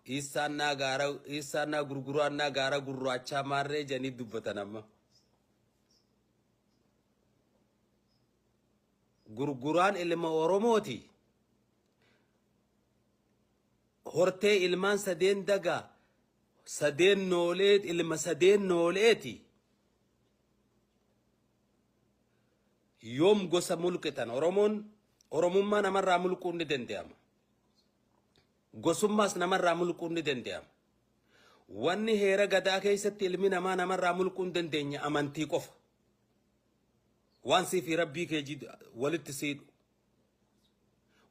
Dhiissaannaa gaara dhiissaannaa gurguraannaa gaara gurraachaa maarree jedhanii dubbatan amma. Gurguraan ilma Oromooti. Hortee ilmaan sadeen dagaa sadeen noolee ilma sadeen nooleeti. Yoom gosa mulqitan Oromoon Oromummaa namarraa mulquun ni danda'ama. Gosummaas namarraa mulquun ni dandeyama. Wanni heera Gadaa keessatti ilmi namaa namarraa mulquu hin dandeenye amantii qofa. Waan sii fi Rabbii kee jid walitti si hidhu.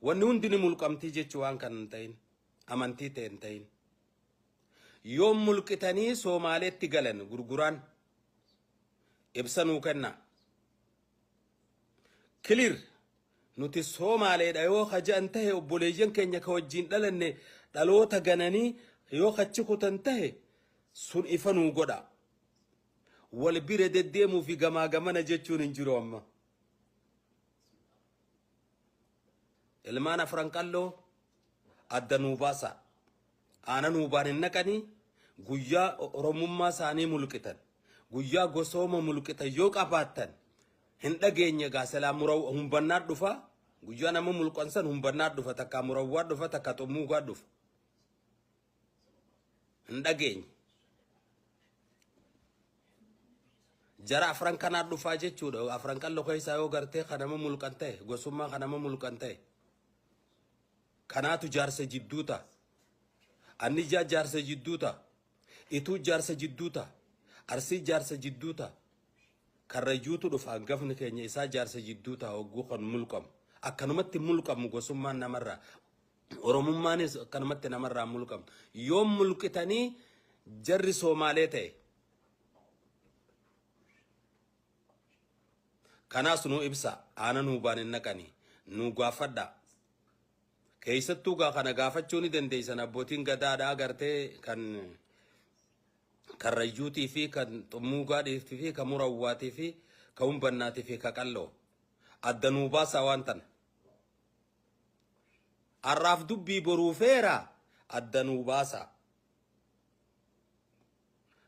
Wanni hundi ni mulqamtii jechu waan kan hin ta'in. Amantii ta'e hin ta'in. Yoom mulqitanii Soomaaleetti galan gurguraan ibsa nuu kennaa. Clear Nuti Soomaaleedha yoo ka ja'an tahe obboleeyyan keenya ka wajjiin dhalanne dhaloota gananii yoo kachi kutan tahe sun ifa nuu godha. Wal bira deddeemuu fi gamaa gamana jechuun hin jiru amma. Ilmaan afran qalloo adda nuu baasaa. Aanan uubaan hin dhaqanii guyyaa Oromummaa isaanii mulqitan guyyaa gosooma mulqitan yoo qabaattan hin dhageenye egaa silaa muraw humbannaa dhufa guyyaa nama mulqan san humbannaa dhufa takka murawwaa dhufa takka xummuugaa dhufa hin dhageenye jara afran kanaa dhufaa jechuudha afran qallo keessaa yoo gartee kanama mulqan ta'e gosummaa kanama mulqan ta'e Kanaatu jaarsa jidduu ta'a. Anni ijaa jaarsa jidduu ta'a. Ituu jaarsa jidduu ta'a. Arsii jaarsa jidduu ta'a. Karrayyuutu dhufa hangafni keenya isaa jaarsa jidduu ta'a hogguu kan mulqamu. Akkanumatti mulqamu gosummaan namarraa. Oromummaanis akkanumatti namarraa mulqamu. Yoo mulqitanii jarri Soomaalee ta'e. Kanaas nuu ibsaa. Aana nuu baan hin naqanii. Nuu gaaffadhaa. Keessattuu gaa kana gaafachuu ni dandeessan abbootiin gadaadha agartee kan karrayyuutii fi kan xummuugaadhiitii fi kan murawwaatii fi kan humbannaatii fi kan qalloo adda nuu baasaa waan tana. Har'aaf dubbii boruu feera adda nuu baasaa.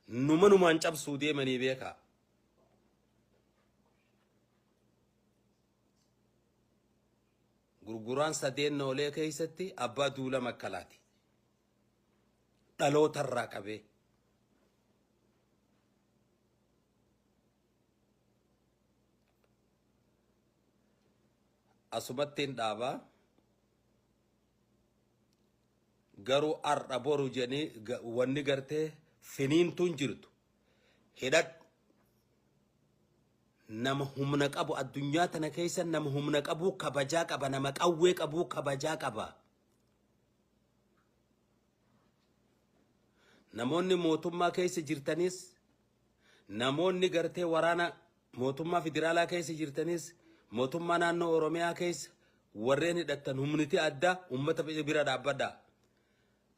Numa numaan cabsuu deemanii beekaa. Gurguraan sadeen noolee keessatti abbaa duula makkalaati. Dhaloota irraa qabee. Asumattiin dhaabaa. Garuu har'a boru jedhanii wanni gartee finiintuun jirtu. hidhadhu nama humna qabu addunyaa tana keessa nama humna qabuu kabajaa qaba nama qawwee qabuu kabajaa qaba namoonni mootummaa keessa jirtanis namoonni gartee waraana mootummaa federaalaa keessa jirtanis mootummaa naannoo oromiyaa keessa warreen hidhattan humniti addaa ummata bira dhaabbadha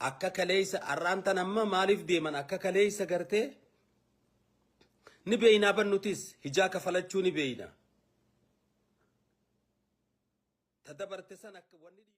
Akka kaleessa arraan tan amma maaliif deeman akka kaleessa gartee ni beeynaa ban nutis hijaa kafalachuu ni beeyna. Ta dabarte san akka wanni